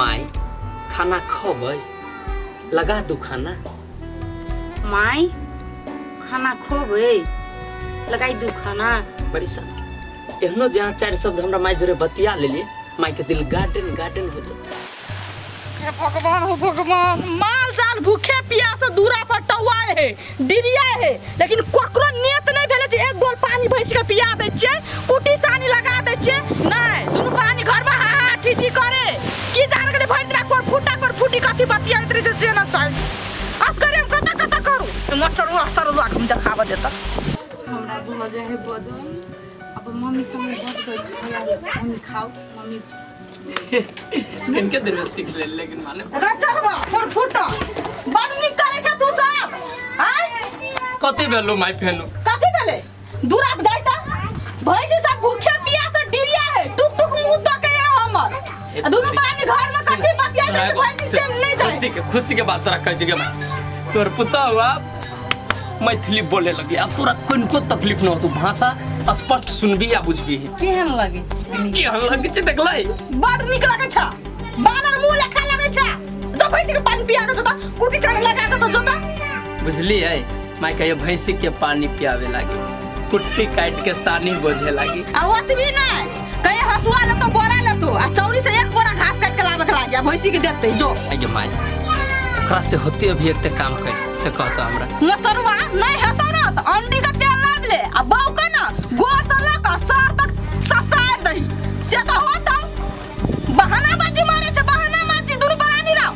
माई खाना खोबै लगा दू खाना माई खाना खोबै लगाई दू खाना बड़ी सब एहनो जहाँ चार शब्द हमरा माई जोरे बतिया लेलिए माई के दिल गार्डन गार्डन हो जाता हे भगवान हो भगवान माल जाल भूखे पिया से दूरा पर टौआए है दिनिया है लेकिन ककरो नियत नहीं भेले जे एक गोल पानी भैंस के पिया दे छे कुटी सानी लगा दे छे नहीं दुनु पानी घर में हा हा ठीठी करे की जान के भैंस ना कोर फूटा कोर फूटी कथी बतिया इतरे जे से ना चाहे असगरे हम कता कता करू मच्छर असर लाग हम देखावा देता हमरा भऽ जाइ है बदन अब मम्मी संगे बड गई हम खाउ मम्मी इनके देर में सीख ले लेकिन माने रे चलबा फुर फुट बड़ नीक करे छ तू सब आय कते भेलो माय फेनो कथी भेले दूरा बधाई त भैंस सब भूखे पिया से डिरिया है टुक टुक मुंह तो के है हमर आ दोनों प्राणी घर में कथी बतिया से भैंस से नहीं जाए खुशी के खुशी के बात तोरा कह जगह में तोर पुता हुआ मैथिली बोले लगी आ तोरा कनिको तकलीफ न होतो भाषा स्पष्ट सुनबी आ बुझबी केहन लगे केहन लगे छै देखलै बड़ नीक लगे छ बानर मुंह लेखा लगे छ तो भैंसी के पानी पिया के जोता कुटी से लगा के तो जोता बुझली है माय कहियो भैंसी के पानी पियावे लागी कुट्टी काट के सानी बोझे लागी आ ओतबी ना कहीं हसुआ ले तो बोरा ले तो आ चौरी से एक बोरा घास काट के लावे के लाग गया भैंसी के देते जो आई गे माई ओकरा से होते अभी एक ते काम कर से कहतो हमरा मचरवा नहीं हेतो ना तो अंडी का तेल लाव ले आ बौ के ना गोर से लेकर सर तक ससार दही से तो होता बहाना बाजी मारे छे बहाना माजी दुनु बरानी राव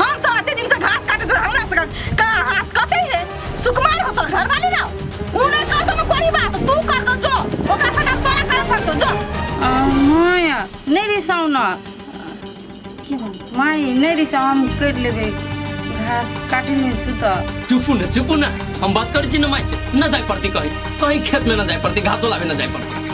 हम सब अते दिन से घास काटत रह हमरा सका का हाथ कटे है सुकुमार हो तोर घरवाली ना ऊ नहीं कर तो कोई बात तू कर दो जो ओकरा सका सारा कर पड़ दो जो माया नहीं रिसाओ ना माई नहीं रिसाओ हम कर लेबे घास काटे नहीं सुता चुपू ना चुपू ना हम बात करी छी ना माई से ना जाए पड़ती कहीं कहीं खेत में ना जाए पड़ती घासो लावे ना जाए पड़ती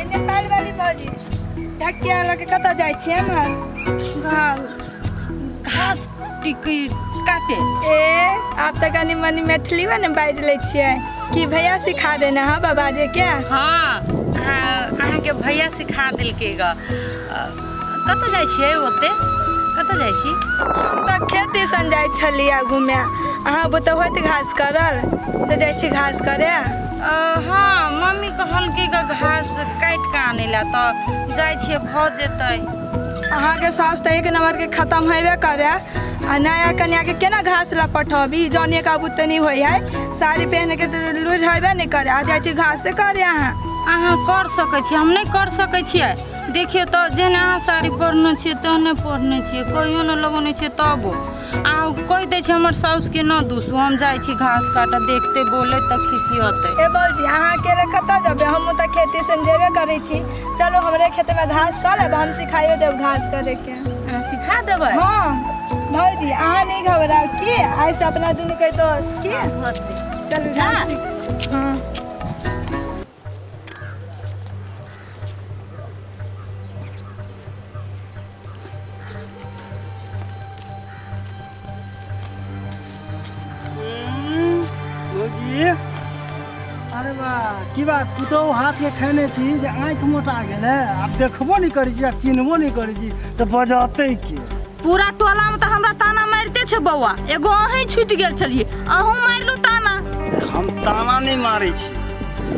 एने पालि वाली भौजी ढकिया लऽ के कतऽ जाइ छियै हमर गाँव घास की की काटे ए आप तऽ कनी मनी मैथिलीमे ने बाजि लै छियै कि भैया सिखा देने हँ बाबा जे क्या हाँ आ, अहाँके भैया सिखा देलकै ग कतऽ जाइ छियै ओते कतऽ जाइ छी हम तऽ खेत दिसन जाइ छलियै घूमे अहाँ बुते होत घास करल से जाइ छी घास करे अ, हाँ मम्मी कहलकै ग घास काटि कऽ आनै लए तऽ जाइ छियै भऽ जेतै अहाँके सास तऽ एक नम्बरके खतम हेबे करे आ नया कन्याके केना घास लए पठबी ई जानिए के बुते नहि होइ है साड़ी पहन के तऽ लुरि हेबे नहि करे आ जाइ छी घासे करे अहाँ अहाँ कर सकै छी हम नहि कर सकै छियै देखियौ तऽ जेहने अहाँ साड़ी पढ़ने छियै तेहने पढ़ने छियै कहियो ने लगौने छियै तबो आ कहि दै छै हमर साउस के न दूसू हम जाइ छी घास काटऽ देखते बोले तऽ खिसियते ए बौजी अहाँ अकेले कतऽ जेबै हम तऽ खेती से जेबे करै छी चलो हमरे खेत में घास कऽ लेब हम सिखाइयो देब घास करे के अहाँ सिखा देबै हाँ भौजी अहाँ नहीं घबराओ की ऐसे अपना दुनू के दोस्त की चलू घास सीख- हाँ की बात पुतहु हाथके खेने छी जे आँखि मोटा गेलै आब देखबो नहि करै छी आ चिन्हबो नहि करै छी तऽ बजतै के पूरा टोला में तो हमरा ताना मारते छे बौआ एगो अहीं छूट गेल छलिए अहूँ मारलू ताना हम ताना नहीं मारे छी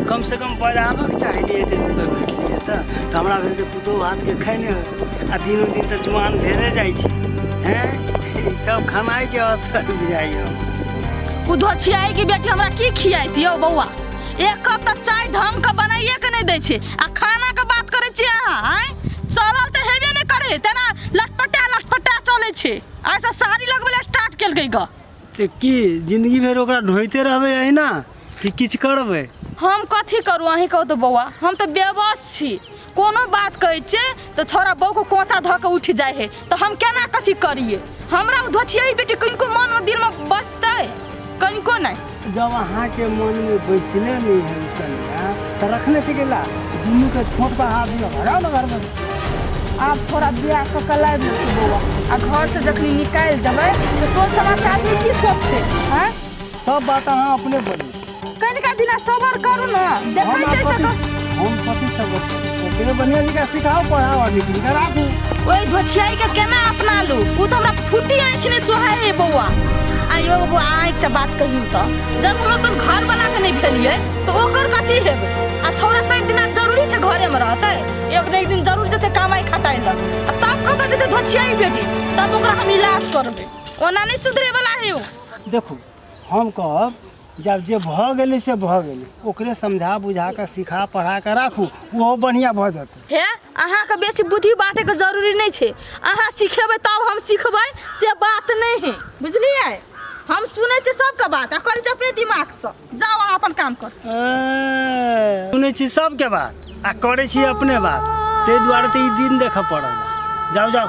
कम से कम बजाबक चाहिए थे भेटलिए तऽ तऽ हमरा भेल जे पुतोहु हाथके खैने हो आ दिनो दिन तऽ जुआन भेले जाइ छै हैं ई सब खानाइके असर बुझाइए उधो छियाई की बेटी हमरा की खियाई दियो बौआ एक कप तऽ चाय ढंग के बनाइए के नहीं दै छै आ खाना के बात करे छी अहाँ आँय चलल तऽ हेबे नहि करे तेना लटपटा लटपटा चले छै ऐसा साड़ी लगबे ला स्टार्ट केलकै ग तऽ की जिंदगी भरि ओकरा ढोइते रहबै अहिना कि किछु करबै हम कथी करू अहीं कहू तऽ बौआ हम तऽ बेबस छी कोनो बात कहै छै तऽ छोरा बहू के कोचा धऽ के उठि जाइ है तऽ हम केना कथी करिए हमरा ओ धोछियाई बेटी कनिको मन मे दिल मे बचतै कनिको नहि जब अहाँ के मन में बैसले नहीं है ई कन्या तो रखने से गेला दुनू के छोट बहा दिया भगा ना घर में आब थोड़ा बियाह कऽ के लाबि लेतै बौआ आ घर से जखनी निकालि देबै तऽ तोर समाज के आदमी की सोचतै हैं सब बात अहाँ अपने बोली कनिका दिना सबर करू ने देखै हम छै कथी सक हम कथी सब ओकरे बढ़िया जगह सिखाओ पढ़ाओ आगे इनका राखू ओइ भछियाई के केना अपना लू उ त हमरा फुटी आंखि ने सोहाय रे बौआ आ यो बौआ आइ त बात कहियौ त जब हम अपन घर वाला के नै भेलियै त ओकर कथी हेबै आ छोरा सात दिना जरूरी छै घरे में रहतै एक ने एक दिन जरूर जेतै कमाई खटाइ ल आ तब कतऽ जेतै धछियाई बेटी तब ओकरा हम इलाज करबै ओना नै सुधरे वाला है उ देखू हम कहब जब जे भऽ गेलै से भऽ गेलै ओकरे समझा बुझा कऽ सिखा पढ़ा कऽ राखू ओहो बढ़िआँ भऽ जेतै हे अहाँके बेसी बुद्धि बाँटैके जरूरी नहि छै अहाँ सिखेबै तब हम सिखबै से बात नहि है बुझलियै हम सुनै छियै सबके बात आ करै छी अपने दिमागसँ जाउ अहाँ अपन काम कर ए, सुनै छी सबके बात आ करै छी अपने बात ताहि दुआरे तऽ ई दिन देखऽ पड़ल जाउ जाउ